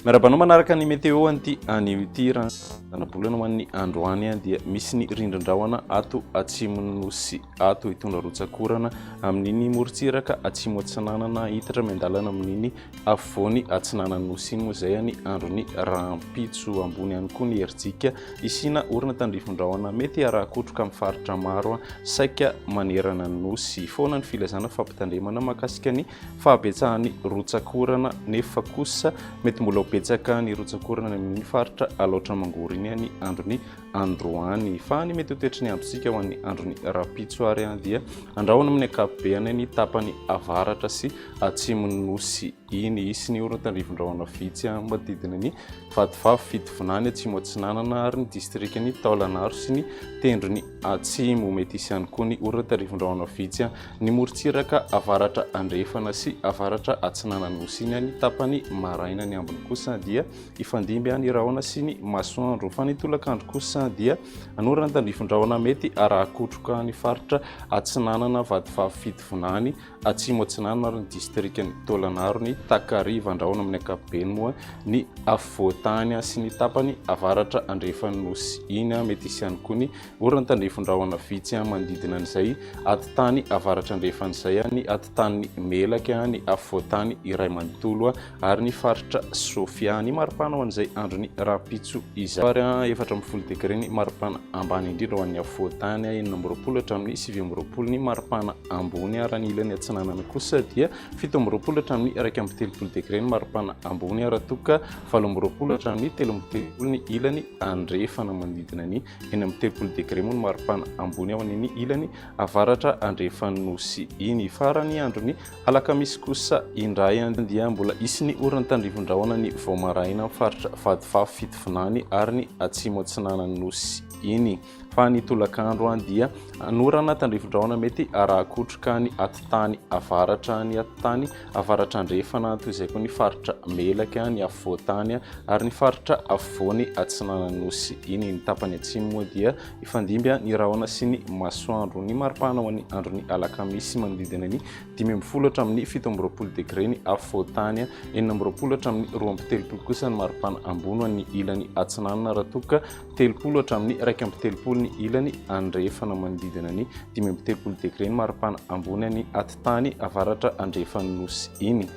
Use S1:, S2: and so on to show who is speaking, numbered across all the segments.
S1: Miarabanao manaraka ny météo anty any ity ranabolana ho an'ny andro any dia misy ny rindrindrahona ato atsimon'ny nosy ato hitondra rotsakorana amin'iny morontsiraka atsimo atsinanana hitatra miandalana amin'iny afovoany atsinanan'ny Nosy Imo izay any andron'ny rahampitso. Ambony ihany koa ny herijika hisiana orana tandrifin-drahona mety harakotroka amin'ny faritra maro saika manerana ny Nosy. Foana ny filazana fampitandremana mahakasika ny fahabetsahan'ny rotsak'orana nefa kosa mety mbola ho betsaka ny rotsak'orana any amin'iny faritra Alaotra Mangoro iny any andron'ny androany. Fa ny mety ho toetry ny androntsika ho an'ny andron'ny rahampitso ary dia andrahona amin'ny ankapobeny any tapany avaratra sy atsimon'ny nosy iny. Hisy ny horontan-drivin-drahona vitsy manodidina ny Vatovavy, Fitovinany, Atsimo Atsinanana ary ny distrikan'i Taolagnaro sy ny tendrony atsimo. Mety hisy ihany koa ny horontan-drivin-drahona vitsy ny morontsiraka avaratra andrefana sy avaratra atsinanan'ny nosy iny any tapany maraina. Ny ambiny kosa dia Hifandimby ny rahona sy ny masoandro, fa ny tolakandro kosa dia hanorina ny tandrifin-drahona mety haraha-kotroka ny faritra Atsinanana, Vatovavy, Fitovinany, Atsimo Atsinanana ary ny distrikan'i Taolagnaro, ny takariva an-drahona amin'ny ankapobeny moa ny afovoan-tany sy ny tapany avaratra andrefan'ny Nosy. Iny mety hisy ihany koa ny orana tandrifin-drahona vitsy manodidina an'izay atitany avaratra andrefan'izay, ny atitanin'ny Melaky, ny afovoan-tany iray manontolo ary ny faritra Sofia. Ny maripana ho an'izay andron'ny rahampitso izay. Fahary efatra amby folo degre ny maripana ambany indrindra ho an'ny afovoan-tany, enina amby roapolo hatramin'ny sivy amby roapolo ny maripana ambony, ary any ilany atsinanana kosa dia fito amby roapolo hatramin'ny iraika amby telopolo degre ny maripana ambony, raha toa ka valo amby roapolo hatramin'ny telo amby telopolo ny ilany andrefana. Manodidina ny enina amby telopolo degre moa ny maripana ambony ao an'ny ilany avaratra andrefan'ny nosy iny. Farany andron'ny Alakamisy kosa indray dia mbola hisy ny oron'ny tandrivon-drahona ny vao maraina amin'ny faritra Vadifafy Fitovinany ary ny Atsimo Atsinanan'ny Nosy iny. Fa ny tolakandro dia hanorana tandrivon-drahona mety haraha-kotroka ny atitany avaratra, ny atitany avaratra andrefana toy izay koa ny faritra Melaky, ny afovoan-tany ary ny faritra afovoany Atsinanan'ny Nosy iny. Ny tapany atsimo moa dia Hifandimby ny rahona sy ny masoandro. Ny maripana ho an'ny andron'ny alakamisy manodidina ny dimy ambin'ny folo hatramin'ny fito amby roapolo degre ny afovoan-tany, enina amby roapolo hatramin'ny roa amby telopolo kosa ny maripana ambony ho an'ny ilany atsinanana raha toa ka telopolo hatramin'ny iraika amby telopolo ny ilany andrefana manodidina ny dimy amby telopolo degre ny maripana ambony any atitany avaratra andrefan'ny nosy iny.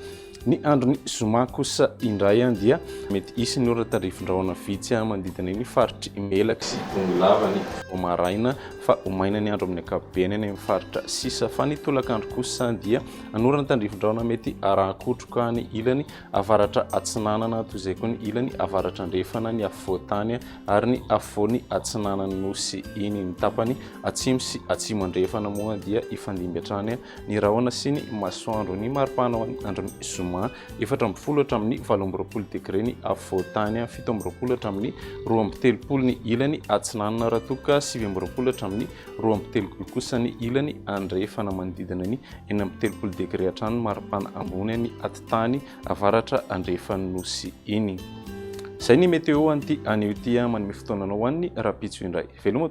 S1: Ny andron'ny zoma kosa indray dia mety hisy ny orana tarifindrahona vitsy manodidina iny faritry Melaky sy Tonilava ny vao maraina fa ho maina ny andro amin'ny ankapobeny any amin'ny faritra sisa fa ny tolakandro kosa dia hanorana tandrifindrahona mety harahakotroka ny ilany avaratra atsinanana toy izay koa ny ilany avaratra andrefana ny afovoantany ary ny afovoany atsinanan'ny nosy iny ny tapany atsimo sy atsimo andrefana moa dia hifandimby hatrany ny rahona sy ny masoandro. Ny mari-pahana ho an'ny andron'ny zoma, efatra amby folo hatramin'ny valo amby roapolo degre ny afovoan-tany, fito amby roapolo hatramin'ny roa amby telopolo ny ilany atsinanana, raha toa ka sivy amby roapolo hatramin'ny roa amby telopolo kosa ny ilany andrefana, manodidina ny enina amby telopolo degre hatrany ny mari-pahana ambony any atitany avaratra andrefan'ny nosy iny. Izay ny météo an'ity anio ity, manome fotoana anao ho an'ny rahampitso indray. Veloma